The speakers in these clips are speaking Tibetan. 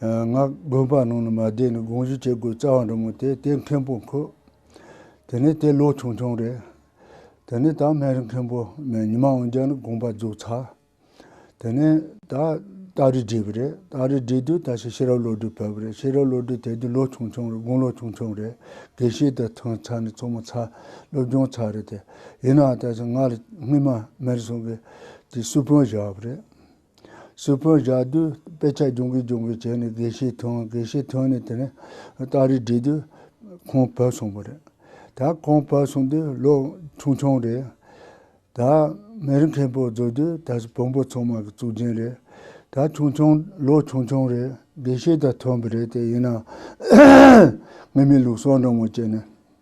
ངག་དགོན་པ་ནང་ནས་མ་བསྡད་ནས་དགོངས་བཞེས་བྱེད་དགོས་རྩ་བ་འགྲོ་མོད་དེ་དེ་མཁན་པོ་འཁོད། དེ་ནས་དེ་ལོ་ཆུང་ཆུང་རེད། དེ་ནས་ད་སྨན་རི་མཁན་པོ་ནས་ཉི་མ་འོན་རྒྱག་ནས་དགོངས་པ་རྫོགས་ཚར། དེ་ནས་ད་སྟག་རི་བྲིས་པ་རེད། སྟག་རི་བྲིས་དུས་ད་ཤི་ཤི་རབ་བློ་གྲོས་ཕེབས་པ་རེད་ཤི་རབ་བློ་གྲོས་དེ་དུས་ལོ་ཆུང་ཆུང་རེད་དགུང་ལོ་ཆུང་ཆུང་རེད་དགེ་བཤེས་དེ་ཐོན་ཚར་ནས་ཚོགས་མ་ཚར་སློབ་སྦྱོང་ཚར་རེད་དེ་ཡིན་ནའང་ད་ཆ་ང་ལ་སྔོན་མ་སྨན་རི་སྲོང་གི་སུ་དཔོན་བཞག་པ་རེད། སུ་ཕོན་བཞག་དུས་དཔེ་ཆ་སྦྱོང་གིན་སྦྱོང་གིན་བྱས་ནས་དགེ་བཤེས་ཐོན་དགེ་བཤེས་ཐོན་ནས་དེ་ནས་སྟག་རི་འགྲིལ་དུས་ཁོང་བོད་སོང་བ་རེད། ད་ཁོང་བོད་སོང་དུས་ལོ་ཆུང་ཆུང་རེད། ད་མེ་རི་མཁན་པོ་རྫོགས་དུས་ད་བོན་པོ་ཚང་མ་གི་གཙུག་རྒྱན་རེད། ད་ཆུང་ཆུང་ལོ་ཆུང་ཆུང་རེད་དགེ་བཤེས་ད་ཐོན་པ་རེད་དེ་ཡིན་ན། ངེད་མི་ལུགས་སྲོག་འགྲོ་ངོ་བཅད་ནས་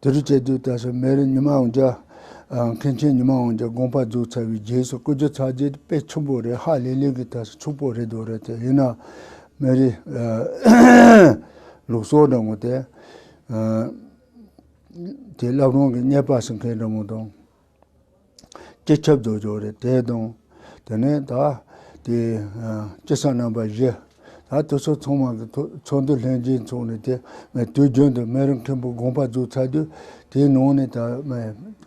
དེ་རུ་བྱས་དུས་ད་གཟོད་མེ་རི་ཉི་མ་འོང་རྒྱ། མཁན་ཆེན་ཉི་མ་འོང་རྒྱ་དགོངས་པ་རྫོགས་ཚར་བའི་རྗེས་སུ་སྐུ་རྒྱུ་ཚར་རྗེས་དཔེ་ཆུང་པོ་རེ་ཧ་ལས་ལས་ཀྱི་ད་གཟོད་ཕྱུག་པོ་རེ་འདུག་རེད་དེ་ཡིན་ནའང་མེ་རི། ལུག་སོགས་འདྲ་མོ་དེ། དེ་རླབས་རང་གི་རྙེད་པ་ཟེར་མཁན་འདྲ་མོ་དང། སྤྱི་ཁྱབ་ཏུ་བཞུགས་ཏེ་དེའི་གདུང། དེ་ནས་ད་ལྟའི་སྐྱེས་སམ་རྣམ་པ་བཞི། ད་ལྟ་སོ་ཚང་མ་གི་ཚོགས་འདུ་ལྷན་རྒྱས་འཚོགས་ནས་དེ་ནས་དུས་རྒྱུན་དུ་སྨན་རི་མཁན་པོ་དགོངས་པ་འཛུགས་ཚར་དུས་དེའི་ནང་ནས་ད་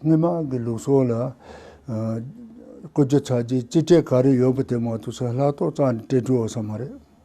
སྔོན་མ་གི་ལུགས་སྲོལ་ལ། བཀོད་རྒྱུ་ཚར་རྗེས་སྤྱི་ཁྲེས་ག་རེ་ཡོད་པ་དེ་མང་དུ་སོང་ལྷག་གཏོགས་གཙང་དྲིལ་བྲོ་བ་ས་མ་རེད།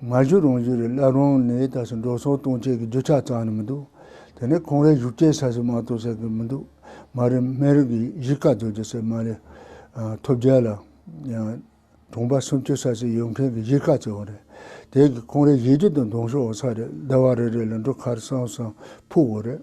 ང་བཞུགས་རང་བཞུགས་རེད་སླར་རང་ནས་ད་ཆ་འགྲོ་སོང་གཏོང་ཆས་ཀྱི་རྒྱུ་ཆ་གཙང་ནི་མི་འདུག་དེ་ནས་ཁོང་རའི་བཞུགས་སྐྱེལ་ས་ཞིག་མང་གཏོང་ས་ཀྱི་མི་འདུག་མ་རེད་སྨན་རིན་གྱི་གཞིས་ཀ་རྫོགས་རྒྱུ་ཚད་མ་རེད། ཐོབ་རྒྱལ་ལ་ཡང་གྲོང་པ་སུམ་ཅུ་ས་ཞིག་ཡོད་མཁན་གྱི་གཞིས་ཀ་བཙལ་བ་རེད། དེ་གི་ཁོང་རའི་གཞིས་རྒྱུ་དང་གདོང་ཤོག་འོག་ས་རེད་ཟླ་བ་རེ་རེ་ལ་འབྲུ་ཁར་སང་སང་ཕུག་འོ་རེད།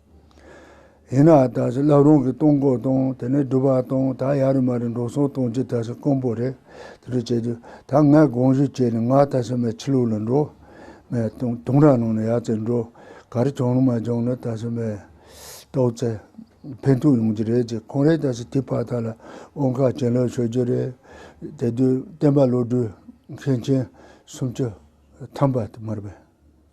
ཡིན་ནའང་ད་གཟོད་བསླབ་རུང་གི་གཏོང་སྒོ་དང་དེ་ནས་སྒྲུབ་པ་དང་ད་ཡར་མར་འགྲོ་སོང་གཏོང་རྒྱུ་ད་གཟོད་དཀོན་པོ་རེད། དེ་འདྲ་བྱས་དུས་ད་ངས་དགོངས་ཞུ་བྱས་ནས་ང་ད་གཟོད་མའི་ཕྱི་ལུགས་ལ་འགྲོ། མའི་དུང་རྭ་ནང་ནས་ཡར་བཙལ་འགྲོ། ག་རེ་བྱུང་རུང་མ་བྱུང་རུང་ད་གཟོད་མའི་རྟོགས་བཙལ་ཕན་ཐོགས་ཡོང་རྒྱུ་རེད་ཅེས་ཁོང་རེ་ད་གཟོད་དེའི་ཕར་ཐག་ལ་དབང་ཁག་ཅན་ལོག་ཤོར་རྒྱུ་རེད། དེ་དུས་བསྟན་པ་བློ་གྲོས་མཁན་ཆེན་སུམ་བཅུ་ཐམ་པ་དུ་མར་བས།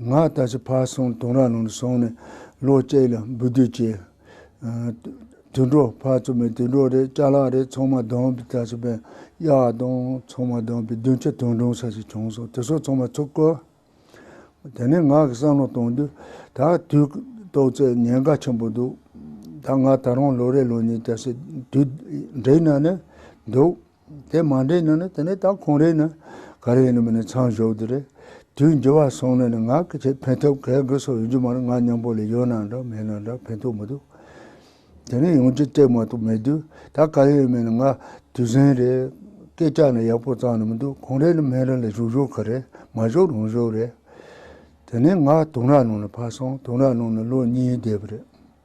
ང་ད་ཆ་ཕར་སོང་གདོང་ར་ནང་དུ་སོང་ནས་ལོ་གཅིག་ལ་འབུད་རྒྱུ་བྱས། དུད་འགྲོ་ཕར་ཚུར་མའི་དུད་འགྲོ་རེད་ལྕགས་ལག་རེད་ཚང་མ་བསྡོམས་པས་ད་ཆ་པན་གཡག་དང་ཚང་མ་བསྡོམས་པས་བདུན་བཅུ་དོན་དྲུག་ས་ཞིག་བྱུང་སོང་དེ་སོགས་ཚང་མ་ཚུར་བཀོལ། དེ་ནས་ང་གིས་བསམ་བློ་བཏང་དུས་ད་དུས་ཏོག་ཙེ་ཉེན་ཁ་ཆེན་པོ་འདུག་ད་ང་ད་རུང་ལོ་རེ་ལོ་གཉིས་ད་སྲིད་དུས་འགྲིག་ན་ནས་འདུག། དེ་མ་འདྲེས་ན་ནི་དེ་ནི་ད་ཁོང་རེད་ན་ག་རེ་ཡིན་ནམ་ནི་ཚང་ཞོག་དེ་རེད། དུས་འགྱུར་བ་སོང་ནས་ནི་ང་གི་ཆེད་ཕན་ཐོབ་གལ་འགུལ་སོགས་ཡོད་རྒྱུ་མ་རེད་ང་སྙམ་པོ་ལས་ཡོད་ན་འདྲ་མེད་ན་འདྲ་ཕན་ཐོགས་མི་འདུག་དེ་ནི་ཡོང་རྒྱུ་སྤྲད་མ་གཏོགས་མེད་དུས་ད་ག་རེ་ཡོད་མེད་ནི་ང་དུས་ཟིན་རེད། སྐད་ཆ་ནི་ཡག་པོ་བརྩམས་ནི་མི་འདུག་ཁོང་རེད་ནི་སྨན་རི་ལ་བཞུགས་ཞོག་ག་རེ་མ་བཞུགས་རུང་ཞོག་རེད། དེ་ནས་ང་དུང་རྭ་ནང་ནས་ཕར་སོང་དུང་རྭ་ནང་ནས་ལོ་གཉིས་བསྡད་པ་རེད།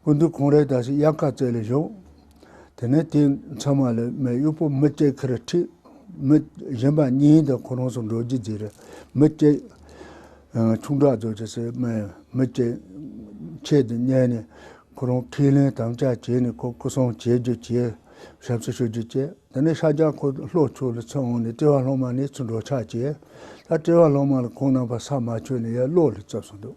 སྐུ་མདུན་གུང་རེག་དང་ཞིག་དབྱར་ཁ་རྩེ་ལས་བཞུགས། དེ་ནས་དེའི་མཚན་མ་ལ་མའི་དབྱུག་པོ་མི་སྐྱེས་ཁེར་ཁྲིད། མི་གཞན་པ་གཉིས་དང་ཁོ་རང་སོགས་འགྲོ་རྒྱུད་རྫིག་རེད། མི་སྐྱེས། ཆུང་དྲག་རྫོགས་བྱེད་སའི་མ་ཡིན། མི་སྐྱེས། ཆེད་དུ་བསྙད་ནས། ཁོ་རང་ཁས་ལེན་དམ་བཅའ་བྱས་ནས་ཁོ་སྐུ་སྲུང་བྱེད་རྒྱུ་བྱས། ཞབས་སུ་ཞུ་རྒྱུ་བྱས། དེ་ནས་ཤཱ་ཀྱ་ཁོ་ལྷོ་ཕྱོགས་ལ་ཚུར་འོང་ནས་ཏྲེ་བ་ལྷག་མ་ནས་ཚུར་འགྲོ་ཕྱག་བྱས། ད་ཏྲེ་བ་ལྷག་མ་ལ་ཁོང་རྣམ་པ་ས་མ་ཆོད་ནས་ཡར་ཀློག་ལ་བརྩབས་སོང་འདུག།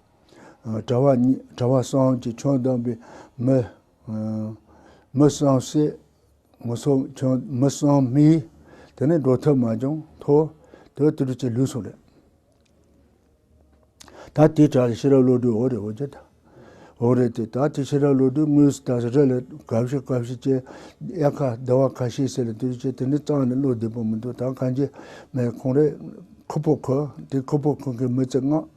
གྲྭ་བ་གཉིས་གྲྭ་བ་སངས་ཀྱི་ཆོས་གདམས་པའི་མི། མི་སངས་སྲས། ངོ་སོ་ཆོས་མི་སངས་མི། དེ་ནས་འགྲོ་ཐབས་མ་བྱུང་ཐོ། དེ་དུས་ཀྱི་ལུས་སུ་རེད། ད་དེའི་གྲྭ་ལ་ཤེས་རབ་བློ་གྲོས་འོ་རེད་འོ་ཅེས་དང། འོ་རེད་དེ། ད་དེའི་ཤེས་རབ་བློ་གྲོས་དངུལ་སྲི་ད་སྲི་རེད་ལ་གབ་ཤི་གབ་ཤི་ཅེས་གཡག་ཁ་སྡེ་བ་ཁ་ཤས་ཟེར་ལ་དེ་རིང་ཅེས་དེ་འདྲའི་གཙང་ནས་བློ་བདེ་པོ་མི་འདུག་ད་གངས་ཅན་མའི་ཁོང་རེད། ཁུ་པོ་ཁོ། དེའི་ཁུ་པོ་ཁོང་གི་མི་ཚེ་བསྔགས།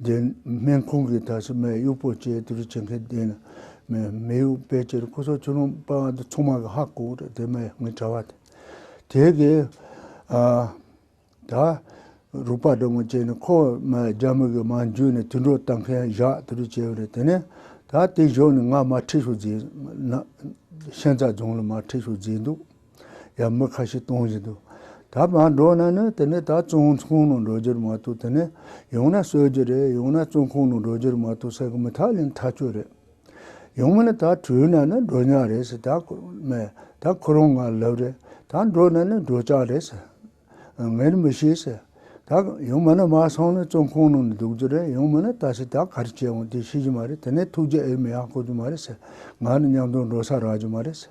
བདེན་སྨན་ཁང་གི་དག་ཞིབ་མའི་དབྱུག་པོ་བཅས་དུས་རེ་བྱེད་མཁན་བདེན་སྨན་དབྱུག་པས་ཅེར་སྐུ་སོགས་ཆུ་ཀླུང་པ་འདི་ཚང་མ་གི་ཧ་གོ་རེད་དེ་མའི་ངའི་གྲྭ་བ་དེ་དེ་གི་ད་རུག་པ་འདྲ་མོ་བྱས་ནས་ཁོ་མའི་རྒྱ་མི་གི་མང་རྒྱུད་ནས་དུད་འགྲོ་བལྟ་མཁན་བཞག་དུས་རེ་བྱས་རེད་དེ་ནས་ད་དེ་བཞོག་ནས་ང་མ་ཁྲིད་ཤོག་རྫིས་ཤན་རྩ་རྫོང་ལ་མ་ཁྲིད་ཤོག་རྫིས་འདུག། ཡང་མི་ཁ་ཤས་གཏོང་བཞིན་འདུག་ད་མ་འགྲོ་ན་ནི་དེ་ནས་ད་བཙོན་ཁང་ནང་འགྲོ་རྒྱུར་མ་གཏོགས་དེ་ནས་ཡང་ན་གསོད་རྒྱུ་རེད་ཡང་ན་བཙོན་ཁང་ནང་འགྲོ་རྒྱུར་མ་གཏོགས་ཟེར་གི་མི་ཐག་ལན་ཐག་ཆོད་རེད། ཡང་མིན་ན་ད་བྲོས་ན་ནི་འགྲོ་ཉག་རེད་ཟེར་ད་ཁོ་མེད་ད་ཁོ་རང་ང་ལབ་རེད་ད་འགྲོ་ན་ནི་འགྲོ་ཅག་རེད་ཟེར། ངས་མི་ཤེས་ཟེར། ད་ཡང་མིན་ན་མ་སོང་ནི་བཙོན་ཁང་ནང་ནས་འདུག་རྒྱུ་རེད་ཡང་མིན་ན་ད་ཟེར་ད་ག་རེ་བྱེད་འོང་དེ་ཤེས་རྒྱུ་མ་རེད་དེ་ནས་ཐུགས་རྗེ་ཨེ་མི་ཡང་དཀོན་རྒྱུ་མ་རེད་ཟེར་ང་ནི་མཉམ་དུ་འགྲོ་ས་རག་རྒྱུ་མ་རེད་ཟེར།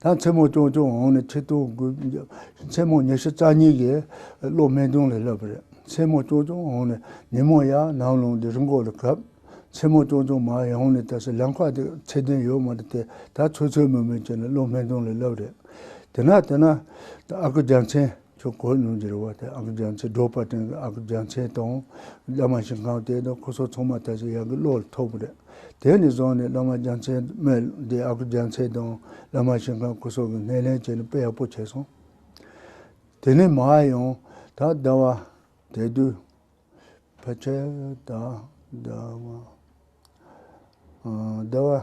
ད་མཚན་མོ་ཅོང་ཅོང་འོང་ནས་ཁྱི་ལྟོ་གོས་བརྒྱབ། མཚན་མོ་ཉི་ཤུ་རྩ་གཉིས་ཀྱི་གློག་སྨན་རྫོང་ལ་སླེབས་པ་རེད། མཚན་མོ་ཅོང་ཅོང་འོང་ནས་ཉིན་མོ་ཡར་ནང་ལུང་སྡེ་རི་མགོ་ལ་གབ། མཚན་མོ་ཅོང་ཅོང་མར་ཡོང་ནས་ད་སི་ལམ་ཁ་དེ་ཚད་ལྡན་ཡོད་མ་རེད་དེ་ད་ཚོད་ཚོད་མིན་མིན་བྱས་ནས་གློག་སྨན་རྫོང་ལ་སླེབས་པ་རེད། དེ་ན་དེ་ན། ཨ་ཁུ་རྒྱལ་མཚན། ཁྱོད་གོས་ནུ་འཛེར་བ་དེ་ཨག་རྒྱ་མཚོའི་སྒྲོག་པ་སྟེང་གི་ཨག་རྒྱ་མཚན་དང། བླ་མ་ཞིང་ཁང་དེ་དང་ཁོ་ཚོ་ཚང་མ་ད་ཆ་ཡག་གི་བློ་ལ་ཐོགས་པ་རེད། དེ་ནས་བཟུང་ནས་བླ་མ་རྒྱ་མཚན་སྨད་དེ་ཨག་རྒྱ་མཚན་དང་བླ་མ་ཞིང་ཁང་སྐུ་སྲོག་གི་སྣེ་ལེན་བྱེད་ནི་དཔེ་ཡག་པོ་བྱས་སོང། དེ་ནས་མ་ཡང་ད་ལྟ་བ་དེ་དུས་ཕལ་ཆེར་ད་ལྟ་བ།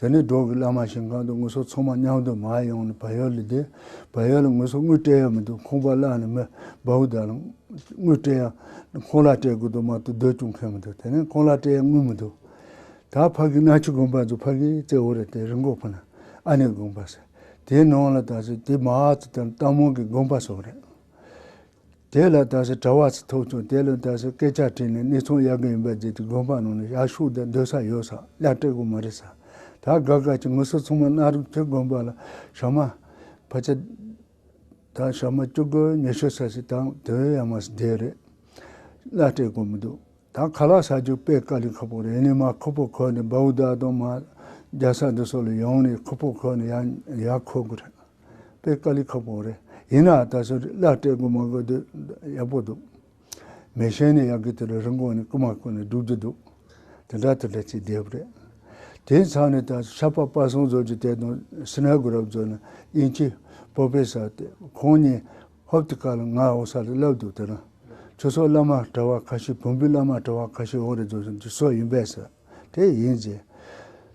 དེ་ནས་འབྲོག་གི་བླ་མ་ཞིང་ཁང་དུ་དངུལ་སོགས་ཚང་མ་མཉམ་དུ་མར་ཡོང་ནས་བལ་ཡུལ་ལ་བསྡད། བལ་ཡུལ་ལ་དངུལ་སོགས་དངུལ་སྤྲད་ཡ་མི་འདུག་ཁང་པ་བླངས་ནས་མི་འབའ་བོ་དག་ལ་དངུལ་སྤྲད་ཡ། ཁང་གླ་སྤྲད་དགོས་དོན་མ་གཏོགས་སྡོད་སྐྱོང་མཁན་མི་འདུག་དེ་ནས་ཁང་གླ་སྤྲད་ཡ་དངུལ་མི་འདུག། ད་ཕ་གི་སྣ་ཆུ་དགོན་པར་འཛུལ་ཕ་གིས་རྩེ་བོ་རེད་དེ་རི་འགོག་ཕུ་ན་ཨ་ནེ་དགོན་པ་ཟེར། དེའི་ནང་ལ་ད་གཟོད་དེ་མ་ཚོ་དང་རྟ་མོང་གི་དགོན་པ་སོགས་རེད། དེ་ལ་ད་གཟོད་གྲྭ་བ་ཚོས་ཐོབ་བྱུང་དེ་ལོའི་ད་གཟོད་སྐད་ཆ་དྲིས་ནས་གནས་ཚུལ་གཡར་གི་ཡིན་པ་བརྗེད་དེ་དགོན་པ་ནང་ནས་ཞག་ཤུག་དེ་སྡོད་ས་ཡོད་སར་གླ་སྤྲད་དགོས་མ་རེད་ས་ད་དགའ་དགའ་ཀྱི་ངུ་སོ་ཚང་མ་གནའ་རབས་ཁྱེད་དགོན་པ་ལ་ཞག་མ་བར་ཆད་དང་ཞག་མ་བཅུ་དགུ་ཉི་ཤུ་ས་ཞིག་དང་དོན་ཡང་མ་ཟད་རེད་གླ་སྤྲད་དགོས་མི་འདུག་ད་ག་ལ་ས་རྒྱུག་པས་དཀའ་ལས་ཁག་པོ་རེད་ཡིན་ནས་མ་ཁོ་པོ་ཁོ་ནས་འབའ་བུ་དག་དང་མ་རྒྱ་ས་འདི་སོགས་ལ་ཡོང་ནས་ཁོ་པོ་ཁོ་ནས་ཡང་ཡར་འཁོད་དགོས་རེད། དཔེ་ཀ་ལི་ཁག་པོ་རེད་ཡིན་ནའང་ད་གཟོད་བླ་སྤྲད་དགོས་མ་དགོས་དེ་ཡག་པོ་འདུག། མི་གཞན་ནས་ཡང་གི་དེ་ལ་རིན་གོང་ནས་རྐུ་མ་བརྐུ་ནས་སྒྲུབ་རྒྱུ་འདུག་དེ་འདྲ་དེ་འདྲ་ཅི་དེབ་རེད། དེའི་མཚམས་ནས་ད་གཟོད་ཤ་པགས་དཔའ་སྲུང་མཛོད་ཀྱི་དེ་དང་སི་ནའི་དགུ་རབས་མཛོད་ནས་དབྱིན་ཇི་པོ་པེ་སར་དེ་ཁོང་གཉིས་ཧོབ་ཏི་ཀ་ལ་ང་འོང་ས་ལ་བསླབ་འདུག་དེ་རིང་ཁྱོད་ཚོ་བླ་མ་གྲྭ་བ་ཁ་ཤས་བོན་པོའི་བླ་མ་གྲྭ་བ་ཁ་ཤས་འོང་རེ་བརྫོ་བཞིན་གྱི་སྲོལ་ཡིན་པས་སོ། དེ་ཡིན་གྱི།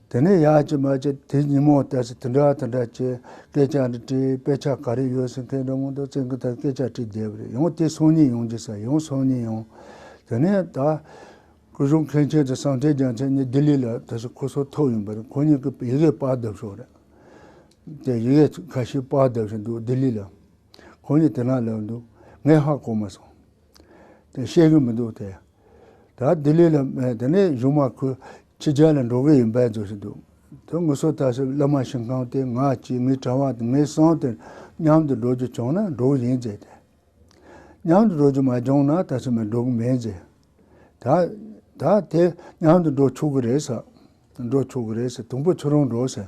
དེ་ནས་ཡག་ཅིག་མ་ཅིག་དེ་ཉིན་མོ་དེར་དེ་འདྲ་དེ་འདྲ་ཅེས་སྐད་ཆ་འདྲི་དྲིས་དཔེ་ཆ་ག་རེ་ཡོད་ཟེར་མཁན་འདྲ་མོ་འདུག་བཙན་གྱི་ཐབས་སྐད་ཆ་དྲིས་བསྡད་པ་རེད་ཡང་དེ་སང་ཉིན་ཡོང་རྒྱུ་ཟེར་ཡང་སང་ཉིན་ཡོང། དེ་ནས་ད། སྐུ་གཞོན་མཁན་ཆེན་དང་ཟངས་ཐལ་རྒྱལ་མཚན་གཉིས་ལྡི་ལི་ལ་དེ་སྲིད་ཁོ་ཚོ་ཐོག་ཡིན་པ་རེད་ཁོ་གཉིས་ཀྱི་ཡི་གེ་དཔར་བརྡབས་ཤོག་རེད། དེ་ཡི་གེ་ག་ཤེད་དཔར་བརྡབས་བཞིན་འདུག་ལྡི་ལི་ལ། ཁོ་གཉིས་དེ་ན་ལབ་འདུག་ངས་ཧ་གོ་མ་སོང། དེ་ཤེས་གི་མི་འདུག་དེ། ད་ལྡི་ལི་ལ་མེད་དེ་ནས་གཞུང་མ་ཁོས་ཕྱི་རྒྱལ་ལ་འགྲོ་གི་ཡིན་པས་འཛོལ་བཞིན་འདུག་དོན་དངོས་སུ་ད་ཕྱིར་བླ་མ་ཞིང་ཁང་དེ་ང་གཅིག་ངའི་གྲྭ་བ་དང་ངའི་སྲང་དེར་མཉམ་དུ་འགྲོ་རྒྱུ་བྱུང་ན་འགྲོ་གི་ཡིན་ཟེར་ཏེ། མཉམ་དུ་འགྲོ་རྒྱུ་མ་བྱུང་ན་ད་ཕྱིར་མི་འགྲོ་གི་མིན་ཟེར། ད་ད་དེ་མཉམ་དུ་འགྲོ་ཆོག་གི་རེད་ཟེར། འགྲོ་ཆོག་གི་རེད་ཟེར་དང་པོ་ཁྱོད་རང་འགྲོ་ཟེར།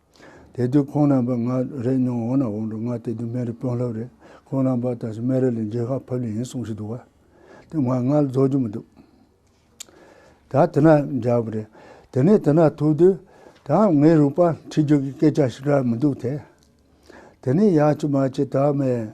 དེ་དུས་ཁོང་རྣམ་པ་ང་རེ་སྙོང་འོང་ན་འོང་འགྲོ་ང་དེ་དུས་སྨན་རི་དཔོན་སློབ་རེད་ཁོང་རྣམ་པ་ད་ཆ་སྨན་རི་ལས་མཇལ་ཁ་ཕབ་ལེ་ཡིན་གསུངས་ཞིག་འདུག་བ་དེ་ང་ང་ལ་རྫོགས་རྒྱུ་མི་འདུག་ད་དེ་ན་འཇགས་པ་རེད་དེ་ནས་དེ་ན་ཐུག་དུས་དང་ངའི་རུས་པ་འཁྲིད་རྒྱུ་གི་སྐད་ཆ་ཞིག་ཀྱང་མི་འདུག་དེ་ནས་ཡག་ཅི་མ་ཅི་དག་མེད།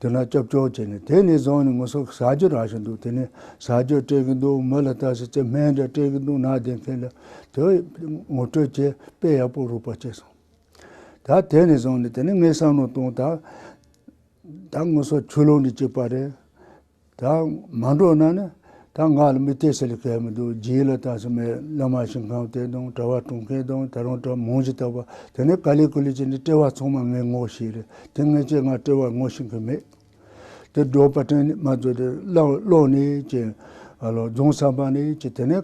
དེ་ན་སྐྱབས་བཅོལ་བྱས་ནས་དེ་ནས་བཟུང་ནས་ངོ་སོ་ཟ་རྒྱུ་རག་བཞིན་འདུག་དེ་ནས་ཟ་རྒྱུ་སྤྲད་གི་འདུག་མི་ལ་ལྟ་ཟེར་ཚེ་སྨན་འདྲ་སྤྲད་གི་འདུག་ནག་དེ་མཁན་ལ་དེ་ངོ་སྤྲོད་བྱས་དཔེ་ཡག་པོ་རུག་པ་བྱས་སོང། ད་དེ་ནས་བཟུང་ནས་དེ་ནས་ངས་བསམ་བློ་བཏང་ད་ད་ངོ་སོ་ཆུ་ལོག་ནས་བཅུག་པ་རེད། ད་མ་འགྲོ་ན་ནི་ད་ང་ལ་མི་སྟེར་ཚད་ལས་བརྒལ་མི་འདུག་རྗེས་ལ་ད་ཚོད་མའི་བླ་མ་ཞིང་ཁམས་དེ་དང་གྲྭ་བ་གྲོང་ཁྱེར་དང་ད་རུང་གྲྭ་མང་ཇི་ལྟ་བ་དེ་ནི་ག་ལེ་གུ་ལེ་བྱས་ནས་བཀྲལ་བ་ཚང་མ་ངས་ངོ་ཤེས་རེད་དེ་ངས་ཀྱང་ང་བཀྲལ་བར་ངོ་ཤེས་མཁན་མེད། དེ་སྒྲོག་པ་དྲན་ནས་མ་རྫོགས་དེ་ཀློག་ནས་ཀྱི། རྫོང་ཚང་པ་ནས་ཀྱི་དེ་ནི་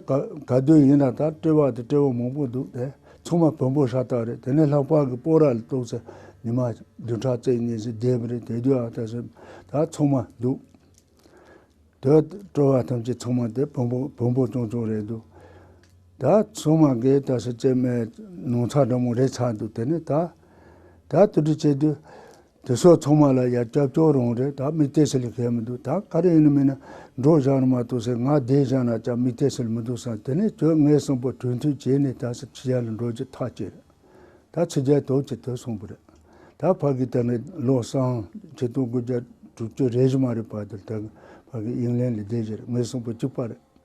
ག་དུས་ཡིན་ན་ད་བཀྲལ་བ་དེ་བཀྲལ་བ་མང་པོ་འདུག་དེ་ཚང་མ་བོན་པོ་ཤ་སྟག་རེད་དེ་ནས་ལྷག་པར་གྱི་པོ་ར་ལ་གཏོགས་ཚེ་ཉི་མ་བདུན་ཕྲག་བརྩེགས་གཉིས་ཚེ་བརྒྱད་རེད་དེ་དུས་ཨ་ལྟ་ཞིབ་ད་ཚང་མ་འདུག་དེ་སྤྲོ་བ་ཐམས་ཅད་ཚང་མ་དེ་བོན་པོ་བོན་པོ་ཅུང་ཅུང་རེད་འདུག་ད་ཚང་མ་གིས་ལྟ་ཞིབ་བྱེད་མའི་ནང་ཚ་འདྲ་མོ་རེ་ཚ་འདུག་དེ་ནས་ད་ད་དུ་དྲི་བྱེད་དུས་དེ་སོགས་ཚང་མ་ལ་ཡར་སྐྱབས་སྐྱོར་རང་རེད་ད་མིག་ལྟས་སེལ་གལ་མི་འདུག་ད་ག་རེ་ཡིན་མིན་ན་འགྲོ་བཞག་ནི་མ་གཏོགས་ཟེར་ང་བསྡད་བཞག་ན་ཅང་མིག་ལྟས་སེལ་མི་འདུག་བསམ་དེ་ནས་ཁྱོད་ངའི་གསུངས་པ་དོན་མཐུན་བྱས་ནས་ད་སེར་སྐྱི་ཡར་ལ་འགྲོ་རྒྱུ་ཐག་བཅད་རེད་ད་ཚེ་རྒྱལ་དོག་ཅིག་དེ་གསུངས་པ་རེད་ད་ཕ་གིས་ད་ནི་བློ་བཟང་ཁྱེད་སྟོང་དགུ་བརྒྱ་དྲུག་ཅུ་རེ་བཞི་མ་རེད་པ་དེར་ད་ཕ་གིས་དབྱིན་ལན་ལ་བསྡད་བཞག་རེད་ངའི་གསུངས་པ་གཅིག་པ་རེད།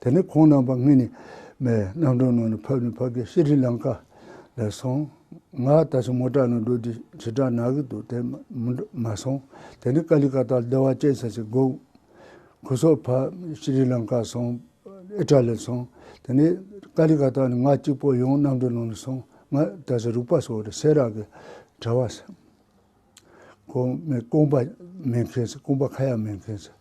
དེ་ནས་ཁོང་རྣམ་པ་ལྔས་ནི་མའི་རྣམ་གྲངས་ནང་ནས་ཕབ་ནས་ཕབ་སྐད་ཤྲཱི་ལང་ཀ་ལས་སོང། ང་ད་ཆ་མོ་ཏྲ་ནང་འགྲོ་དུས་བྱེ་བྲག་ན་གི་འདུག་དེ་མ་སོང། དེ་ནས་ཀ་ལི་ཀ་ཏཱ་ལ་སྡེ་བ་བཅས་ཚར་གཅིག་སྒུག། གོས་སོགས་ཕབ་ཤྲཱི་ལང་ཀ་སོང། ཨི་ཏྲ་ལི་སོང། དེ་ནས་ཀ་ལི་ཀ་ཏཱ་ནས་ང་གཅིག་པོ་ཡང་རྣམ་གྲངས་ནང་ནས་སོང། ང་ད་ཆ་རིག་པ་སོགས་རེད་སེ་རག་གི་གྲྭ་བ། ཁོང་མའི་རྐང་པ་མེད་མཁན་ཚེ་རྐང་པ་ཁ་ཡག་མེད་མཁན་ཚེ།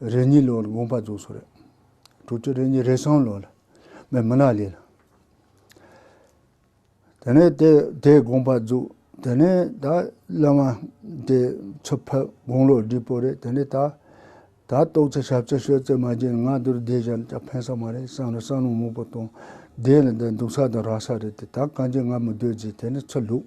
རེ་གཉིས་ལོར་དགོངས་པ་རྫོགས་སོ། དྲུག་ཅུ་རེ་གཉིས་རེ་གསུམ་ལོར་མི་མི་ནག་ལས། དེ་ནས་དེ་དེས་དགོངས་པ་རྫོགས། དེ་ནས་ད་བླ་མ་དེས་ཚུར་ཕེབས་དགུང་ལོ་བདུན་པོ་རེད་དེ་ནས་ད། ད་ཏོག་ཙེ་ཞབས་ཙེ་ཤོད་ཙེ་མ་བརྒྱད་ནང་དུ་བསྡད་བཞག་ཅག་ཕན་ས་མ་རེད་བསམ་ར་ས་ནོར་མོག་པོ་དང་བསྡད་ནས་འདི་འདུག་ས་དང་རག་ས་རེད་དེ་ད་གང་ཅི་ང་མི་སྡོད་རྗེས་དེ་ནས་ཚུར་ལུགས།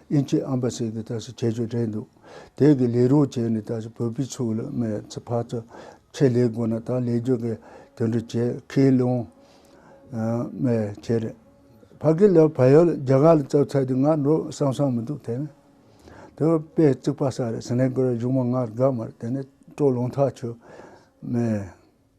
ཨིན་ཇིའི་ཨམ་པ་སི་དེ་ད་ཞིག་བྱེད་རྒྱུ་རེད་འདུག་དེ་གི་ལས་རོགས་བྱས་ནས་ད་ཞིག་བོད་པའི་ཕྱུག་ལ་མེ་ཚི་ཕག་ཚི་ཁྱི་ལས་དགོས་ན་ད་ལས་རྒྱུ་གི་དོན་དུ་བྱས་ཁས་ལོང་མེ་ཁྱི་རེད་ཕ་གི་ལ་བལ་ཡོད་རྒྱ་གར་ལ་བཙལ་ཚད་དུ་ང་འགྲོ་བསམ་བསམ་མི་འདུག་དེ་ནི་དེ་བས་དཔེ་བརྩིག་པ་ས་རེད་སི་ནེ་གི་ར་གཞུང་མ་ང་དགའ་མ་རེད་དེ་ནི་སྤྲོ་ལོང་ཐག་ཆོད་མེད།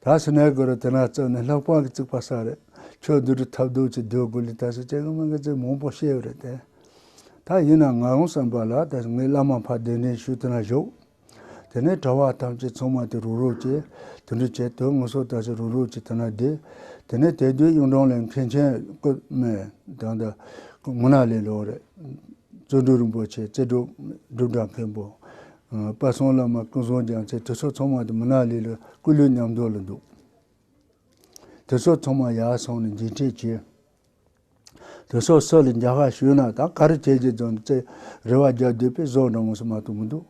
ད་ཕྱི་ནས་དགོས་རེད་དེ་ན་བཙོན་ནི་ལྷག་པར་གྱི་རྩིག་པ་སྲ་རེད་ཆོས་བསྡུ་སྒྲུབ་ཐབས་རྡོ་རྗེ་འདོད་དགུ་ལས་ད་ཕྱི་སྐྱེ་གི་མི་འགའ་ཚོས་མང་པོ་ཤེས་ཡོད་རེད་དེ། ད་ཡིན་ནའང་ང་རང་བསམ་པ་ལ་ད་ཕྱི་ངའི་བླ་མ་ཕ་གདན་འདྲེན་ཞུས་དེ་ན་བཞུགས། དེ་ནས་གྲྭ་བ་ཐམས་ཅད་ཚང་མ་དེ་རུ་རུ་གྱིས་དུད་འགྲོ་བྱས་དུས་ངུ་སོ་ད་ཕྱི་རུ་རུ་གྱིས་དེ་ན་བསྡད། དེ་ནས་དེ་དུས་གཡུང་དྲུང་ལས་མཁན་ཆེན་བཀོད་མེད་དང་ད་ངུ་ན་ལས་ལོག་རེད། རྩོད་སྒྲུབ་རིན་པོ་ཆེ་རྩེ་སྒྲུབ་སྒྲུབ་གྲྭ་མཁན་པོ། དཔལ་གསུང་བླ་མ་ཀུན་བཟང་རྒྱལ་མཚན་དུས་སོགས་ཚང་མ་དུ་མི་ནག་ལི་ལ་སྐུ་ལུས་མཉམ་འདུག་ལ་འདུག། དུས་སོགས་ཚང་མ་ཡར་སོང་ནས་འགྱིང་འཕྲད་བྱས། དུས་སོགས་སྲོད་ལ་འཇའ་ཤ་ཞུས་ན་ད་གར་བྱེད་ཀྱི་རྫོང་རྩེ་རེ་བ་རྒྱག་སྡོད་པས་ཟོག་འདྲ་མོ་ཟ་མ་ཐུབ་མི་འདུག།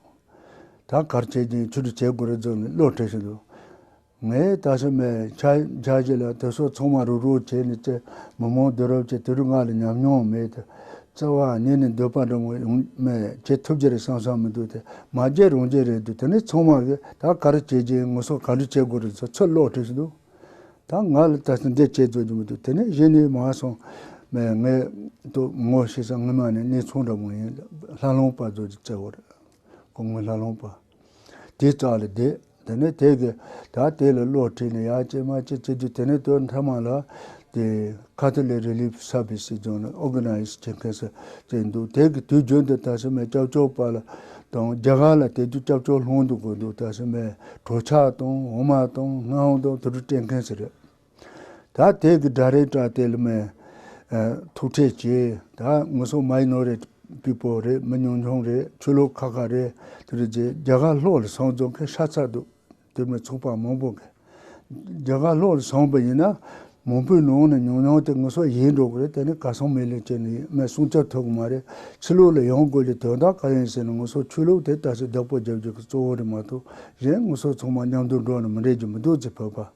ད་གར་བྱེད་ཀྱི་མཆུ་སྒྲོ་བྱེད་དགོས་རེ་རྫོགས་ནས་གློག་ཁྲིད་བཞིན་དུ། ངས་ད་ཆ་མལ་ཆ་རྒྱག་རྒྱུ་ལ་དེ་སོགས་ཚང་མ་རུག་རུག་བྱས་ནས་བཙལ། མི་མང་དུས་རབས་ཀྱི་དུས་རབས་ལྔ་ལ་ཉམས་མྱོང་མེད་དུ་བཙལ་བ་ཉིད་ནས་འདོད་པ་འདྲ་མོ་ཡང་མལ་ཆས་ཐུབ་རྒྱུ་རེད་བསམ་བསམ་མི་འདུག་དེ་མ་རྒྱས་རང་རྒྱས་རེད་འདུག་དེ་ནས་ཚང་མ་གིས་ད་ག་རེ་བྱེད་ཀྱིན་ངུ་སོང་ག་འདྲ་བྱེད་དགོས་རེད་ཚུར་ཚུར་ལོག་བྲིས་འདུག་ད་ང་ལ་ད་ལྟ་འདི་བྱེད་རྩོད་ཀྱི་མི་འདུག་དེ་ནས་གཞི་ནས་མ་སོང་མལ་ངས་ལྟོས་ངོ་ཤེས་ས་ངེད་མ་ནི་གནས་ཚང་འདྲ་མོ་ཡིན་ལ་ལྷ་ལུང་པ་རྫོགས་ཀྱི་རྩེ་བ་རེད་ཁོ་ངོས་ལྷ་ལུང་པ། དེའི་རྩ་ལ་བསྡད། དེ་ནས་དེ་གི་ད་དེ་ལ་བློ་ཁྲིད་ནས་ཡ་ཅེ་མ་ཅེ་བྱེད་དུས་དེ་ནས་དོན་མཐའ་མ་ལ་དེ Catholic Relief Service ཞེས་བྱུང་ནས Organize བྱེད་མཁན་སོ་བྱེད་འདུག་དེ་གི་དུས་རྒྱུན་དུ་དཱ་ཞི་མའི་སྐྱབས་བཅོལ་བ་ལ་དང་རྒྱ་གར་ལ་དེ་དུས་སྐྱབས་བཅོལ་སློང་འདུག་གོ་འདུག་དཱ་ཞི་མའི་གྲོས་ཆག་དང་འོ་མ་དང་སྔགས་དང་དེ་དྲུག་སྤྲད་མཁན་ཞིག་རེད། ད་དེ་གི་སྒྲ་རེད་བཀྲ་དེ་ལ་མེ། ཐུག་འཕྲད་བྱེད་ད་ངོ་སོ་མ་ཡིན་ནོ་རེད་པི་པོ་རེད་མི་ཉུང་ཉུང་རེད་ཆོས་ལུགས་ཁ་ཁ་རེད་དེ་རེད་རྗེས་རྒྱ་གར་ལྷོ་ལ་སོང་རྫོང་ཁའི་ཧྲ་ཚ་འདུག་དེ་མི་ཚོགས་པ་མང་པོ་འགས། རྒྱ་གར་ལྷོ་ལ་སོང་པ་ཡིན་ན་མང་པོའི་ནང་ནས་ཉུང་ཉུང་དེ་ངོ་སོ་ཡིན་འགྲོ་གི་རེད་དེ་ནི་ག་སོང་མི་ལེན་ཅན་ཡིན་མེད་གསུང་ཆ་ཐོས་གི་མ་རེད་ཕྱི་ལུགས་ལ་ཡོང་དགོས་ལས་དོན་དག་ག་ཡིན་ཟེར་ན་ངོ་སོ་ཆོས་ལུགས་དེ་ད་ཆ་བདག་པོ་རྒྱབ་རྒྱུ་གི་གཙོ་བོ་རེད་མ་གཏོགས་གཞན་ངོ་སོ་ཚང་མ་མཉམ་དུ་འགྲོ་ནི་མི་འགྲིག་རྒྱུ་མི་འདུག་ཚེ་བོད་པ།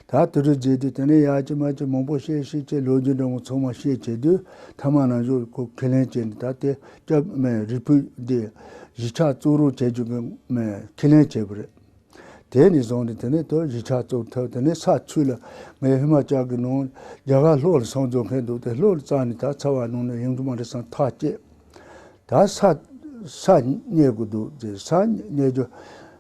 ད་དུས་རབས་བརྗེས་དུས་དེ་འདྲའི་ཡག་གཅིག་མ་གཅིག་མང་པོ་བཤད་ཤེས་ཆེད་ལོ་རྒྱུས་འདྲ་མོ་ཚང་མ་བཤད་བྱས་དུས་མཐའ་མ་ནང་བཞུགས་སྐུ་ཁས་ལེན་བྱས་ནས་ད་ལྟའི་སྐྱབས་སྨན་རིལ་བུ་འདི་གཞིས་ཆགས་གཙུག་རུང་བྱེད་རྒྱུ་གི་ཁས་ལེན་བྱས་པ་རེད། དེ་ནས་བཟུང་སྟེ་དེ་ནས་དུ་གཞིས་ཆགས་བཙུགས་ཐབས་དེ་ནས་ས་ཚུལ་ལ་ངའི་ཧི་མ་ཅག་གི་ནང་རྒྱ་གར་ལྷོ་ལ་སངས་རྒྱོ་མཁན་འདུག་སྟེ་ལྷོ་ལ་བཙགས་ནས་ད་ཚ་བ་ནང་ནས་ཡོང་རྒྱུ་མ་རེད་སང་ཐག་བཅད། ད་ས་ས་རྙེད་དགོས་འདུག་ཟེར་ས་རྙེད་རྒྱུ་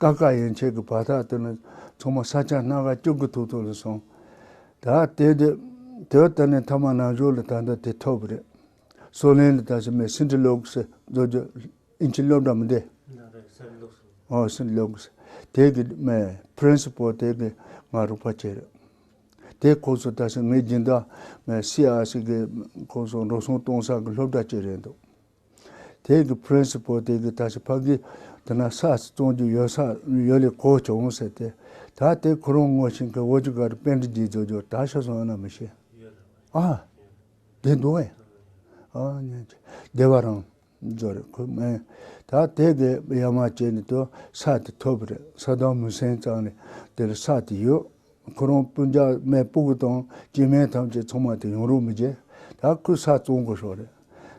ཀ་ཀ་ཡན་ཆད་ཀྱི་བར་དག་ཏུ་ནི་ཚང་མ་ས་ཆ་སྣ་ག་བཅུ་གི་ཐུག་ཐུག་ལ་སོང། ད་དེ་དེ་དེ་ལྟར་ནས་མཐའ་མ་ནང་ཞོར་ལ་ད་ལྟ་དེ་ཐོབ་རེད། སོ་ལན་ལ་ད་ཕྱི་མའི་སིན་ཏི་ལོག་སི་རྫོགས་རྒྱུ་ཨིན་ཅི་སློབ་གྲྭ་མི་འདི། ཨོ་སིན་ཏི་ལོག་སི་དེ་གི་མའི Principal དེ་གི་ང་རོགས་པ་ཆེ་རེད། དེ་ཁོ་ཚོ་ད་ཕྱི་ངའི་སྦྱིན་བདག་མའི CRC གི་ཁོ་ཚོ་འགྲོ་སོང་གཏོང་ས་གི་སློབ་གྲྭ་གཅིག་རེད་འདུག། དེ་གི Prince པོ་དེ་གི་ད་ཞིག་ཕ་གི་དེ་ན་ས་ཚི་བཙོང་རྒྱུ་ཡོད་ས་ཡོད་ལས་གོ་བྱུང་ཟེར་ཏེ་ད་དེ་ཁོ་རང་ངོ་ཤེས་མཁན་བོད་ཀྱི་ག་རེ་དཔེ་འདྲི་རྒྱུ་རྫོགས་རྒྱུ་ད་ཤོད་སོང་ཡོད་ན་མི་ཤེས། ཨ། དེ་འདུག་ཨེ། ཨ་ཉོན་ཅིག་བདེ་བ་རང་རྫོགས་རེད་ཁོས་སྨྲས། ད་དེ་གི་ཡ་མ་བྱས་ནས་དུ་ས་དེ་ཐོབ་རེད་ས་དང་མུན་སེལ་ཙང་ནས་དེ་ལ་ས་དེ་ཡོད། ཁོ་རང་སྤུན་ཟླ་མའི་སྤུ་གུ་དང་སྐྱེས་དམན་ཐམས་ཅད་ཚང་མ་དེ་ཡོང་རོགས་མི་བྱེད། ད་ཁོས་ས་བཙོང་དགོས་ཤོག་རེད།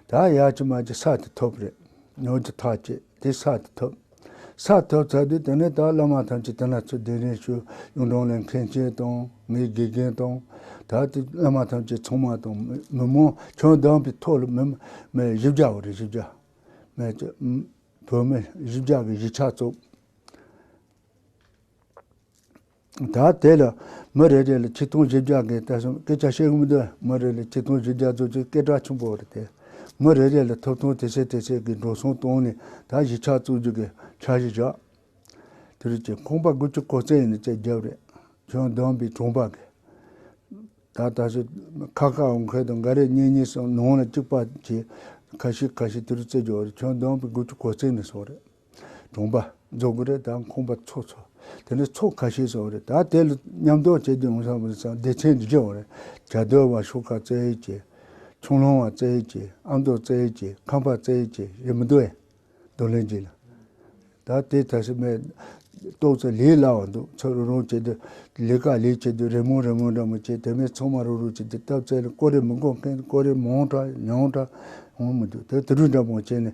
ད་ཡ་ཅི་མ་ཅི་ས་དེ་ཐོབ་རེད། ནོར་གྱི་ཐག་བཅད་དེ་ས་དེ་ཐོབ། ས་ཐོབ་ཚར་དུས་དེ་ནས་ད་བླ་མ་ཐམས་ཅད་དེ་ན་ཚུད་དེ་རིང་ཤོས་གཡུང་དྲུང་ལས་མཁན་ཆེན་དང་ངའི་དགེ་རྒན་དང། ད་ལྟའི་བླ་མ་ཐམས་ཅད་ཚང་མ་དང་མི་མང་ཁྱོན་བསྡམས་པའི་ཐོག་ལ་མི་མེད་བཞི་བརྒྱ་བ་རེད་བཞི་བརྒྱ། མེད་ཀྱི། བོད་མི་བཞི་བརྒྱ་གི་གཞིས་ཆགས་བཙུགས། ད་དེ་ལ་མི་རེ་རེ་ལ་ཆིག་སྟོང་བཞི་བརྒྱ་འགའི་ལྟ་སྲུང་སྐད་ཆ་བཤད་འོང་དུས་མི་རེ་ལ་ཆིག་སྟོང་བཞི་བརྒྱ་གཙོ་ཆེའི་སྐད་གྲགས་ཆེན་པོ་རེ་སྟེ། མི་རེ་རེ་ལ་ཐོབ་ཐང་དེ་ཆེ་དེ་ཆེ་གི་འགྲོ་སོང་བཏང་ནས་ད་གཞིས་ཆགས་བཙུགས་རྒྱུ་གི་འཆར་གཞི་བཞག་དེ་རེད་ཅེས་ཁོང་པ་དགུ་ཆུ་ཁོག་རྩེ་ཡིན་ནི་ཅེས་རྒྱབ་རེ་བྱོན་བདམས་པའི་དྲུང་པ་གིས། ད་ད་ཞིག་ཁ་ཁ་འོང་མཁན་དང་འགའ་རེ་གཉིས་གཉིས་སམ་ནང་ལ་གཅིག་པ་བྱས། ཁ་ཤིག་ཁ་ཤིག་དེ་རུ་རྩེ་རྒྱོགས་རེ་བྱོན་བདམས་པའི་དགུ་ཆུ་ཁོག་རྩེ་ནས་སོང་རེ། གྲོང་པ་རྫོང་གི་རེད་ད་ཁོང་པ་ཚོགས་ཚོགས་དེ་ནས་ཚོགས་ཁ་ཤས་སོང་རེད་ད་དེ་ལ་མཉམ་འདོགས་བྱེད་དུ་ཡོང་ས་མི་སང་བདེ་ཆེན་དུ་བྱེད་འོང་རེད་གྱ་སྟོད་བ་ཤོག་ཁ་བཙལ་ཡོད་ཀྱི་ཁྱུང་ལུང་བ་བཙལ་ཡོད་ཀྱི་ཨ་མདོ་བཙལ་ཡོད་ཀྱི་ཁམས་པ་བཙལ་ཡོད་ཀྱི་རེད་མི་འདུག་ཨེ་འདུག་ལན་གཅིག་ལ་ད་དེ་ད་སི་མས་ཏོག་ཙེ་ལས་སླ་བ་འདུག་ཚོ་རུག་རུག་བྱེད་དུ་ལས་ཀ་ལས་བྱེད་དུ་རེ་མོང་རེ་མོང་འདྲ་མི་བྱེད་དེ་མས་ཚང་མ་རུག་རུག་བྱེད་དུ་སྟབས་བཙལ་ལ་ཀོ་རེ་མི་འགོག་མཁན་ཀོ་རེ་མང་དྲག་ཉུང་དྲག་འོང་མི་འདུག་དེ་དུ་རུག་འདྲ་མང་བྱེད་ནས་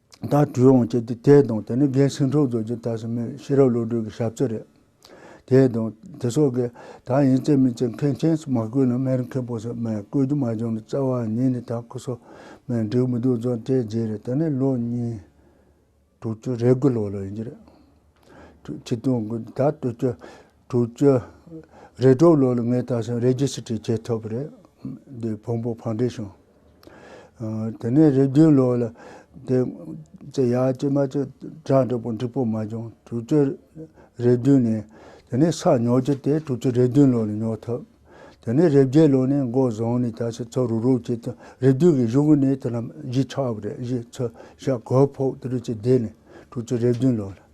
ད་དྲུད་འོང་བྱས་ཏེ་དེས་དང་དེ་ནི་རྒན་ཟིང་འཁྲུག་རྫོགས་ཀྱི་དག་ཟིན་མོད་ཤེས་རབ་བློ་གྲོས་ཀྱི་ཞབས་རྩེ་རེད། དེས་དང་དེ་སོགས་ཀྱིས་ད་ཡིན་བརྩེ་མི་བརྩེ་མཁན་ཆེན་སུ་མ་བསྐོས་ན་མེར་མཁས་པོ་སུ་མས་བསྐོས་རྒྱུ་མ་བྱུང་ན་རྩ་བ་ཉིད་ནས་ད་སྐུ་སོ་མའི་འགྲིག་མི་འདུག་རྫོགས་བྱེད་རྗེས་རེད་ད་ནི་ལོ་གཉིས། དྲུག་ཅུ་རེ་དགུ་ལོ་ལོ་ཡིན་རྒྱུ་རེད། ཁྲི་སྟོང་དགོས་ད་བསྟོད་ཁྱོད་དྲུག་བཅུ། རེ་དྲུག་ལོ་ལ་ངའི་དར་ཞིང་རེ་བརྒྱུད་ཕྱི་བྲིས་ཁྱེད་ཐོབ་རེད། དེ་བོང་བུ་ཕང་འདྲེ་བྱུང། དེ་ནས་རེ་བརྒྱུད་ལོ་ལ། དེ་ཚེ་ཡ་གཅིག་མ་གཅིག་གྲགས་འགྲིག་པོ་འགྲིག་པོ་མ་བྱུང་དྲུག་བཅུ། རེ་བདུན་ནས། དེ་ནས་ས་ཉོ་རྒྱུ་དེ་དྲུག་བཅུ་རེ་བདུན་ལོ་ལ་ཉོ་ཐུབ། དེ་ནས་རེ་བརྒྱད་ལོ་ནས་མགོ་བཟུང་ནས་དར་ཞིང་ཚུར་རུག་རུག་བྱེད་དུ་རེ་བདུན་གྱི་གཞུག་ནས་དེ་རྣམས་གཞིས་ཆགས་པ་རེད་གཞིས་ཚུར་ཞག་གོ་ཕོག་དེ་རུ་ཆེད་བསྡད་ནས་དྲུག་བཅུ་རེ་བདུན་ལོ་ལ།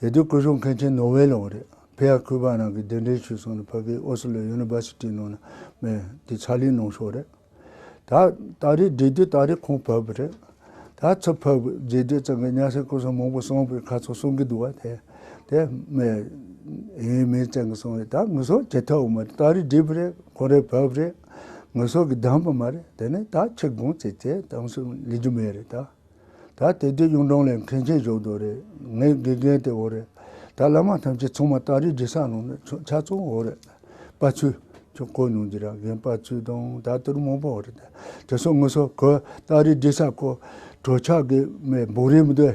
དེ་དུས་སྐུ་གཞུང་མཁན་ཆེན་ནོ་ཝེ་ལོང་རེད། ཕེ་ཡ་ཁུ་པ་རང་གི་གདན་འདྲེན་ཞུས་སོང་ནས་ཕ་གིའི་ཨོ་སི་ལོ་ཡུ་ནི་བར་སི་ཏི་ནང་ན་མེད་དེ་ཕྱག་ལས་གནང་ཕྱོགས་རེད། ད་ད་རེས་འགྲིག་དུས་ད་རེས་ཁོང་ཕབ་རེད། ད་ཚུར་ཕབ་དགོས་རྗེས་འདི་ཙམ་གྱི་གཉའ་ཤིང་སྐུ་གསུང་མང་པོ་གསུངས་པའི་ཁ་ཚོན་གསུང་གི་འདུག་བ་དེ་དེ་མེད་ཡིན་མིན་བཙན་གྱི་གསུང་རེད་ད་ངུ་སོ་བྱེད་ཐབས་མ་རེད་ད་རེས་འགྲིག་རེད་ཁོང་རེས་ཕབ་རེད་ངུ་སོ་གི་གདམས་པ་མ་རེད་དེ་ནས་ད་ཁྱི་དགོངས་བརྩེ་བརྩེ་གཏམ་གསུང་ལེགས་རྒྱུ་མེད་རེད་ད། ད་དེ་དུས་གཡུང་དྲུང་ལས་མཁན་ཆེན་ཞོགས་དུང་རེད། ངའི་དགེ་རྒན་དེ་འོ་རེད། ད་བླ་མ་ཐམས་ཅད་ཚང་མ་སྟག་རི་རྗེ་སར་ལོག་ནས་ཆོས་འཆད་ཚོགས་འོ་རེད། དཔའ་ཚུལ། ཁྱོད་གོ་མྱོང་རྒྱུ་ར་རྒན་དཔའ་ཚུལ་དང་ད་ལྟར་མང་པོ་འོ་རེད། དེ་སོགས་ངུ་སོ་ཁོས་སྟག་རི་རྗེ་སར་ཁོ་གྲོ་ཆག་གི་མའི་སྦུག་རེ་མི་དེ་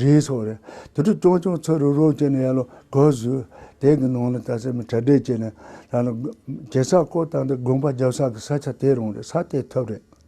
རེ་ཟོ་རེད། དེ་དུས་ཀྱང་ཀྱང་ཚུར་རུག་རུག་བྱས་ནས་ཡར་ལོག་གོ་ཟོས། དེ་གི་ནང་ལ་ད་སེར་མོ་གྲ་སྒྲིག་བྱས་ནས་ལ་ལ། རྗེ་སར་ཁོ་ད་ལྟ་དགོན་པ་རྒྱབ་ས་གི་ས་ཆ་དེ་རང་རེད་ས་དེ་ཐོབ་རེད།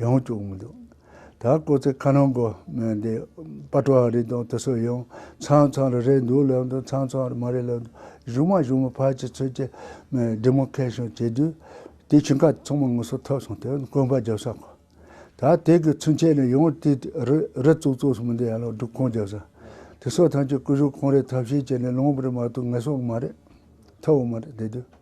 ཡང་བཅུག་མི་འདུག། ད་ཁོ་ཚོས་ཁ་ནང་སྒོ་མོའི་འདི་པ་ཀྲོ་ཨ་རི་དང་དེ་སོགས་ཡང་ཚང་ཚང་རེ་རེད་འདུག་ལབ་འདུག་ཚང་ཚང་རེ་མ་རེད་ལབ་འདུག་གཞུག་མ་གཞུག་མ་ཕར་གྱི་ཚུར་གྱི Demarcation བྱེད་དུས་དེ་ཕྱིན་ཁ་ཚང་མ་ངུ་སོ་ཐབས་སོང་དེ་བཀོན་པ་རྒྱབ་ས་གོ། ད་དེ་གི་ཚུན་ཆད་ནས་ཡང་དེ་རི་རི་ཙུག་ཙུག་སོང་མི་འདུག་ཡ་ལོག་སྒྲུབ་ཁང་རྒྱབ་ས། དེ་སོགས་ཐམས་ཅད་སྐུ་གཞུག་ཁང་རེད་ཐབས་ཤེས་བྱས་ནས་ལོངས་པར་མ་ཐུབ་ངལ་སོང་གི་མ་རེད། ཐབས་འོང་མ་རེད་དེ་དུས།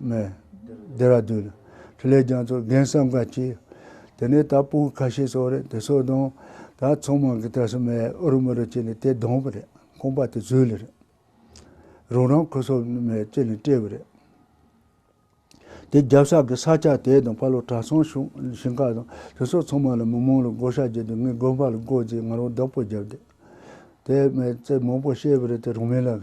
རེད། Dehradun། ཁྲི་ལས་རྒྱང་ཚོགས་རྒན་བསམ་དགའ་ཁྱེད། དེ་ནས་ད་སྤུན་ཁ་ཤས་སོགས་རེད་དེ་སོགས་དང། ད་ཚོགས་མང་གི་ད་སོ་མས་ཨུ་རུ་མུ་རུ་བྱས་ནས་དེ་བསྡོམས་པ་རེད་ཁོང་པ་དེ་ཟོས་ལེ་རེད། རང་རང་ཁུ་སོ་མས་བཅད་ནས་བཀྲེས་པ་རེད། དེ་རྒྱབ་ས་གི་ས་ཆ་དེ་དང་ཕ་ལོ་བྲག་ཚང་གཞུང་ཞིང་ཁག་དང་དེ་སོགས་ཚང་མ་ལ་མི་མང་ལ་བགོ་བཤའ་བགྱིས་ཏེ་ངའི་དགོན་པ་ལ་བགོ་བགྱིས་ང་རང་བདག་པོ་བརྒྱབ་དེ། དེ་མས་རྩེད་མང་པོ་བཤད་པ་རེད་དེ་རང་མི་ལ་རེད།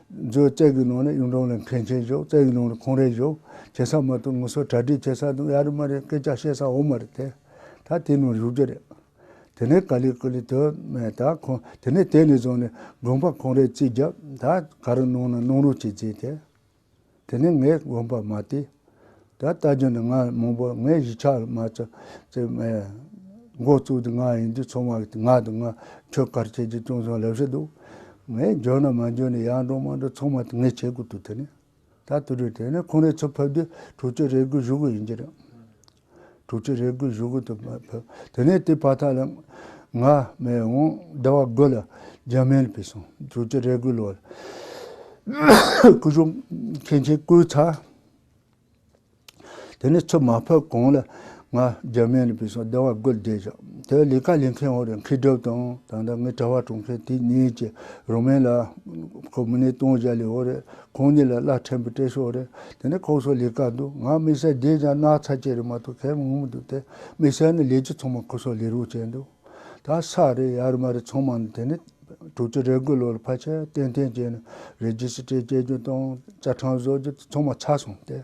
མཛོད་བཙལ་གྱི་ནང་ནས་གཡུང་དྲུང་ལ་མཁན་ཆེན་བཞུགས་བཙལ་གྱི་ནང་ནས་ཁོང་རེ་བཞུགས་བྱེད་ས་མ་ཏུ་ངུ་སོ་གྲ་སྒྲིག་བྱེད་ས་དང་གཡའ་རི་མ་རེ་སྐད་ཆ་བཤད་ས་འོག་མ་རེ་དེ་ད་དེ་ནང་བཞུགས་རྒྱུ་རེད། དེ་ནས་ཀ་ལི་ཀུ་ལི་དོན་མེད་ད་ཁོང་དེ་ནས་དེ་ནས་བཟུང་ནས་དགོན་པ་ཁོང་རེ་རྩིས་བརྒྱབ་ད་ག་རེ་གནང་ན་གནང་རོགས་བྱེད་རྩིས་དེ། དེ་ནི་ངས་གོམས་པ་མ་སྟེ། ད་ལྟ་རྒྱུ་ནི་ང་ལ་མང་པོ་ངའི་གཞིས་ཆགས་ལ་མ་ཚོ་ཚེ་མའི་མགོ་བཙུགས་དུས་ང་ཡིན་དུས་ཚོང་བ་ང་དང་ང་ཁྱོད་དཀར་ཁྱེད་ཀྱིས་ཅུང་ཟད་ལེགས་བཤད་འདུག་ངས་འཇོན་ན་མ་འཇོན་ན་ཡར་འགྲོ་མར་འགྲོ་ཚང་མ་ངས་བྱེད་དགོས་འདུག་དེ་ནི་ད་དུས་རེད་དེ་ནི་ཁོང་རེ་ཚོ་ཕེབས་དུས་དྲུག་ཅུ་རེ་དགོས་བཞུགས་གི་ཡིན་གྱི་རེད། དྲུག་ཅུ་རེ་དགུའི་གཞུག་གུ་དུ་མ་ཕུལ། དེ་ནས་དེའི་བར་དག་ལ། ང། མེས་འོང། བདེ་བ་དགོས་ལ། འཇམ་མལ་བུས་སོང། དྲུག་ཅུ་རེ་དགུའི་ལོར། སྐུ་གཞུང། མཁན་ཆེན་སྐུའི་ཚ། དེ་ནས་ཚུལ་མ་ཕུལ་གོང་ལ། ང། འཇམ་མལ་བུས་སོང། བདེ་བ་དགོས་བདེ་བཞག། དེ་ལས་ཀ་ལས་མཁན་འོ་རེ་མཁས་གྲུབ་དང་དང་ད་ངའི་གྲྭ་བ་དྲུང་མཁན་དེ་གཉིས་ཀྱིས་རོ་མན་ལ། ཁོ་མི་ནས་སྟོང་བཞག་ལས་འོ་རེ་ཁོང་གཉིས་ལ་བླ་ཕྲན་བུ་སྤྲད་ཤོག་རེད་དེ་ནས་ཁོག་སོགས་ལས་ཀ་འདུག་ང་དམིགས་བསལ་བསྡད་ཀྱང་ན་ཚ་བཅས་རེད་མ་གཏོགས་ཁས་མི་ངོམ་འདུག་དེ་དམིགས་བསལ་ནི་ལས་ཀྱི་ཚོང་མང་ཁོ་སོགས་ལས་རོགས་བྱས་འདུག་ད་ས་རེད་ཡ་རེད་མ་རེད་ཚོང་མང་དེ་ནས་དྲུག་ཅུ་རེ་དགུ་ལོ་ལ་ཕ་ཆེ་ཏན་ཐན་བྱས་ནས་རེ་རྒྱུ་ཞིག་སྤྲད་སྤྱད་རྒྱུ་དང་བཅའ་ཁྲིམས་བཟོ་རྒྱུ་དེ་ཚང་མ་ཆགས་སོང་སྟེ།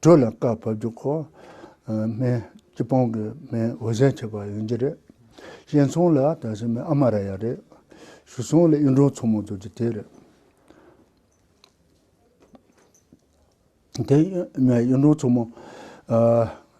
དྲོད་ལ་བཀའ་ཕབ་རྒྱུ་ཁོ། སྨན། སྤྱི་སྤང་གི་སྨན་འོད་ཟེར་བྱས་པ་ཡིན་རྒྱུ་རེད། གཤེན་ཚོང་ལ་དག་ཞིང་མི་ཨ་མ་ར་ཡ་རེད། ཞུ་ཚོང་ལ་གཡུ་འབྲུག་མཚོ་མོ་འཛུགས་རྒྱུ་དེ་རེད། དེ་གཡུ་འབྲུག་མཚོ་མོ།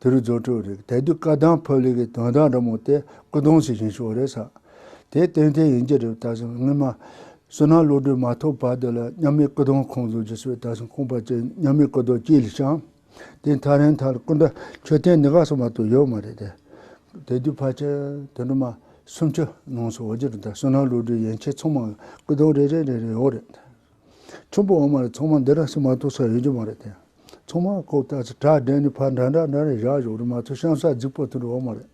དེ་རུ་རྫོགས་སྤྲོད་རིག་དལ་དུས་བཀའ་གདམས་ཕོ་ལི་གི་དོན་དག་འདྲ་མོ་དེ་སྐུ་གདུང་ཞིག་བཞེངས་ཤོག་རེད་བསམ། དེ་བསྟན་དེ་ཡིན་གྱི་རེད་བལྟ་སོང་སྔོན་མ། བསོད་ནམས་བློ་གྲོས་མ་ཐོབ་བར་དུ་ལ་མཉམ་མེད་སྐུ་གདུང་ཁོང་བཟོ་རྒྱུ་སོད་ད་སོང་ཁོང་པ་ཅིག་མཉམ་མེད་སྐུ་གདུང་སྐྱིད་ལ་བཤམ། དེ་མཐར་རིན་ཐང་སྐུ་འདྲ་མཆོད་རྟེན་ནི་ག་སོང་མ་ཏོག་ཡོད་མ་རེད་དེ། དལ་དུས་ཕར་ཆེར་དེ་འདྲ་མ་སུམ་ཅུ་ནང་སོང་བར་གྱི་རུ་དར་བསོད་ནམས་བློ་གྲོས་ཡན་ཆད་ཚང་མ་སྐུ་གདུང་རེ་རེ་རེ་རེ་ཡོད་རེད། ཁྱུང་པོ་འོ་མ་རེད་ཚོང་མ་འདི་ར་ཤི་མ་ཏོག་ས་ཡོད་རྒྱུ་མ་རེད་དེ། ཚོང་མ་ཁོ་བལྟ་ཚེ་གྲ་སྒྲན་ནས་ཕར་འདྲ་འདྲ་འདྲ་རེད་བཞག་བཞོག་རེད་མ་ཚོ་ཤང་ས་རྫིག་པོ་དེ་རུ་འོ་མ་རེད།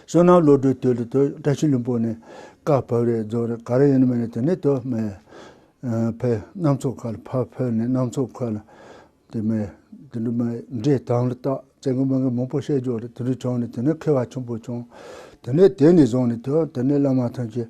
བསོད་ནམས་བློ་གྲོས་དོད་ལི་དོད་བཀྲ་ཤིས་ལིམ་པོ་ནས་ཀ་བབས་རེད་རྫོགས་རེད་ག་རེ་ཡིན་མིན་རེད་དེ་ནས་དོད་མེད། ཕེ་གནམ་མཚོ་མཁའ་ལ་ཕར་ཕེབས་ནས་གནམ་མཚོ་མཁའ་ལ། དེ་མེད་དེ་འདྲ་མེད་འདྲེ་དང་ལི་སྟག་བཙན་གི་མི་གི་མང་པོ་བཤད་རྒྱོག་རེད་དེ་འདྲ་བྱུང་ནས་དེ་ནས་མཁས་བ་ཆེན་པོ་བྱུང། དེ་ནས་དེ་ནས་བཟུང་ནས་དོད་དེ་ནས་བླ་མ་ཐོན་སྐྱེས།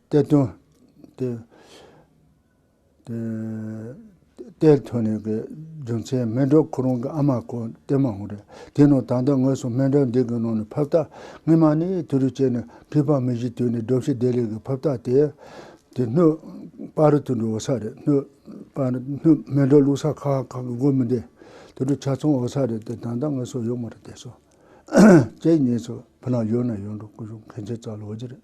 གཏེར་སྟོན། གཏེར་ཐོན་ནས་ཀྱི་རྒྱུ་མཚན་སྨན་གྲོལ་ཁོ་རང་གི་ཨ་མ་ཁོ་གཏེར་མ་འོང་རེད། དེ་ནང་ད་ལྟ་ངོས་སུ་སྨན་གྲོལ་འདི་གི་ནང་ནས་ཕབ་རྟགས་སྔིན་མ་ནི་དུས་རིག་ཅེས་ནས་ཁིས་ཕག་མི་བཞི་དུས་ནས་སྒྲོབ་ཤི་བདེ་ལེགས་ཀྱི་ཕབ་རྟགས་དེ། དེ་སྣོད་དཔའ་རུ་དུད་འགྲོ་འོ་ས་རེད་སྣོད་དཔའ་རུ་སྣོད་སྨན་གྲོལ་བླུགས་ས་ཁག་ཁག་གི་སྒོ་མི་བདེ། དུད་འགྲོ་ཆ་ཚང་འོ་ས་རེད་དེ་ད་ལྟ་ངོས་སུ་ཡོད་མ་རེད་དེ་སོ། ཁྱེད་གཉིས་སུ་བུ་ལང་ཡོད་ན་ཡོད་འགྲོ་སྐུ་གཞུག་མཁན་ཆེན་ཙག་ལོ་རྗེ་རེད།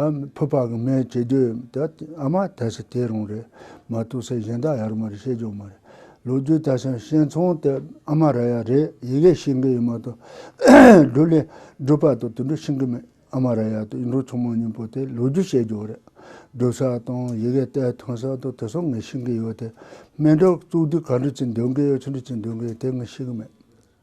ད་ཕུ་པ་གི་མེ་བྱེད་རྒྱུ་ཡོད་ད་ཨ་མ་དེ་ཚོ་དེ་རང་རེད་མ་གཏོགས་སེ་གཞན་དག་ཡ་རུ་མ་རེད་ཤེས་རྒྱུ་མ་རེད་ལོ་རྒྱུས་ད་ཆ་ཤེས་མཚུངས་དེ་ཨ་མ་ར་ཡ་རེད་ཡི་གེ་ཤེས་གི་ཡོད་མ་གཏོགས་སྒྲུ་ལེ་སྒྲུ་པ་དང་དེ་འདྲ་ཤེས་གི་མེད་ཨ་མ་ར་ཡ་དང་ཡིན་འགྲོ་ཆུང་མ་གཉིས་པོ་དེ་ལོ་རྒྱུས་ཤེས་རྒྱུ་རེད་སྒྲུ་ས་དང་ཡི་གེ་གཏེར་ཐོན་ས་དང་དེ་ཚོ་ངས་ཤེས་གི་ཡོད་དེ་སྨན་གྲོལ་གཙུག་དུས་ག་འདྲ་ཅིག་འདོན་གི་ཡོད་ཅི་འདྲ་ཅིག་འདོན་གི་ཡོད་དེ་ངས་ཤེས་གི་མེད།